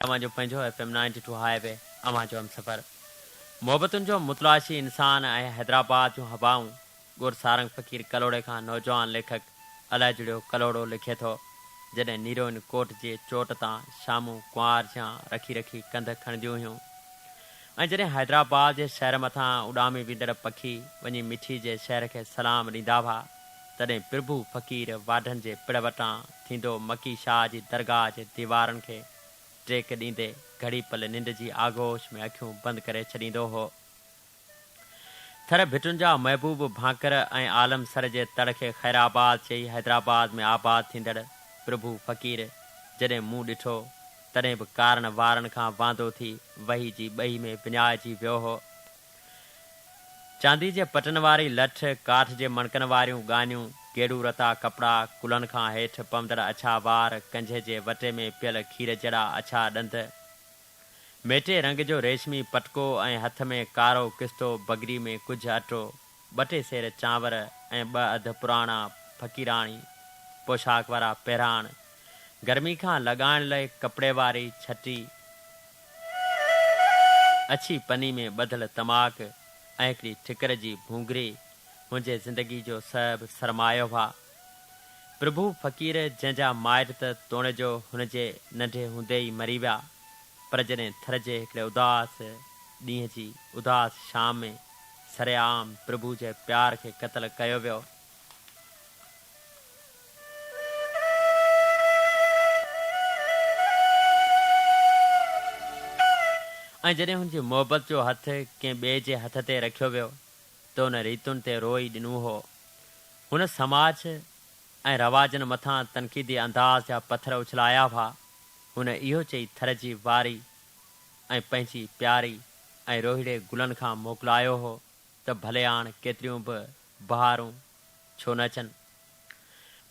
اوهان جو پنهنجو F M ninety two highway اوهان جو همسفر محبتن جو متلاشي انسان ۽ حيدرآباد جون هوائون ڳور سارنگ فقير ڪلهوڙي کان نوجوان ليکڪ الاجڙيو ڪلهوڙو لکي ٿو جڏهن نيروئن ڪوٽ جي چوٽ تان شامون ڪنوار جيان رکي رکي ڪنڌ کڻنديون هيون ۽ جڏهن حيدرآباد جي شهر مٿان اڏامي ويندڙ پکي وڃي مٺي جي شهر کي سلام ڏيندا هئا. تڏهن پرڀو فقير واڍن جي پڙ وٽان ٿيندو مڪي شاهه جي درگاهه جي ديوارن کي ٽيڪ ڏيندي گهڙي پل ننڊ جي آغوش ۾ اکيون بند ڪري ڇڏيندو هو. ٿر ڀٽن جا محبوب ڀانڪر ۽ عالم سر جي تڙ کي خيرآباد چئي حيدرآباد ۾ آباد ٿيندڙ پرڀو فقير جڏهن منهن ڏٺو تڏهن به ڪارن وارن کان واندو ٿي وهي جي ٻئي ۾ وڃائجي ويو هو. چاندي جي پٽن واري لٺ، ڪاٺ جي مڻڪن واريون ڳانيون، گيڙو رتا ڪپڙا، ڪلهن کان هيٺ پوندڙ اڇا وار، ڪنجهه جي وٽي ۾ پيل کير جهڙا اڇا ڏند، ميٽي رنگ جو ريشمي پٽڪو ۽ هٿ ۾ ڪارو ڪستو، بگري ۾ ڪجهه اٽو، ٻه ٽي سير چانور ۽ ٻه اڌ پراڻا فقيراڻي پوشاڪ وارا پهراڻ، گرمي کان لڳائڻ لئي ڪپڙي واري ڇٽي، اڇي پني ۾ ٻڌل تماڪ ۽ هڪڙي ٺڪر جي ڀونگري منهنجي زندگي جو سڀ سرمايه هئا. پرڀو فقير جنهن جا مائٽ ته توڻيجو هن جي ننڍي هوندي ئي مري ويا پر جڏهن ٿر جي هڪڙي اداس ڏينهن جي اداس شام ۾ سرعام پرڀو جي پيار کي قتل ڪيو ويو، ۽ جڏهن هن جي محبت جو هٿ ڪنهن ٻئي جي هٿ تي رکيو ويو ته ان ريتن تي روئي ڏنو هو. هن سماج ۽ رواجن مٿان تنقيدي انداز جا پٿر اڇلايا هئا. هن اهو چئي ٿر جي واري ۽ پنهنجي پياري ۽ روهيڙي گلن کان موڪلايو هو ته ڀلياڻ ڪيتريون به بهارون ڇو نه اچن؟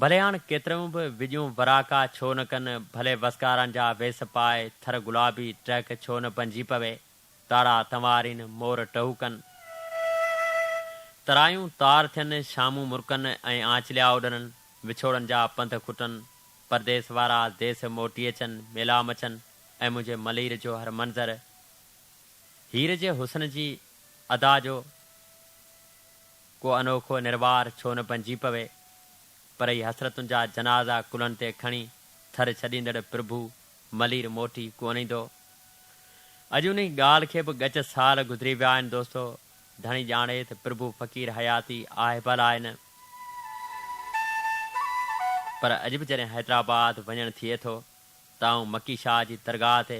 ڀلي هاڻ ڪيتريون به وڄون وراڪا ڇو نه ڪن، ڀلي وسڪارن جا ويس پائي، ٿر گلابي ٽهڪ ڇو نه بنجي پوي، تارا تنوارين، مور ٽهوڪن، ترايون تار ٿين، شامون مرڪن ۽ آنچليا اڏرن، وڇوڙن جا پنڌ کٽن، پرديس وارا ديس موٽي اچن، ميلا مچن ۽ منهنجي ملير جو هر منظر هير جي حسن جي ادا جو ڪو انوکو نروار ڇو نه بنجي پوي، پر اهي حسرتن جا جنازا ڪلهن تي کڻي ٿر ڇڏيندڙ پرڀو ملير موٽي ڪونه ايندو. اڄ انهي ڳالهه کي به ڳچ سال گذري ويا آهن دوستو، ڌڻي ڄاڻي ته پرڀو فقير حياتي آهي به الاء نه، پر اڄ به جڏهن حيدرآباد وڃڻ ٿئي ٿو ته آئون مڪي شاهه جي درگاهه تي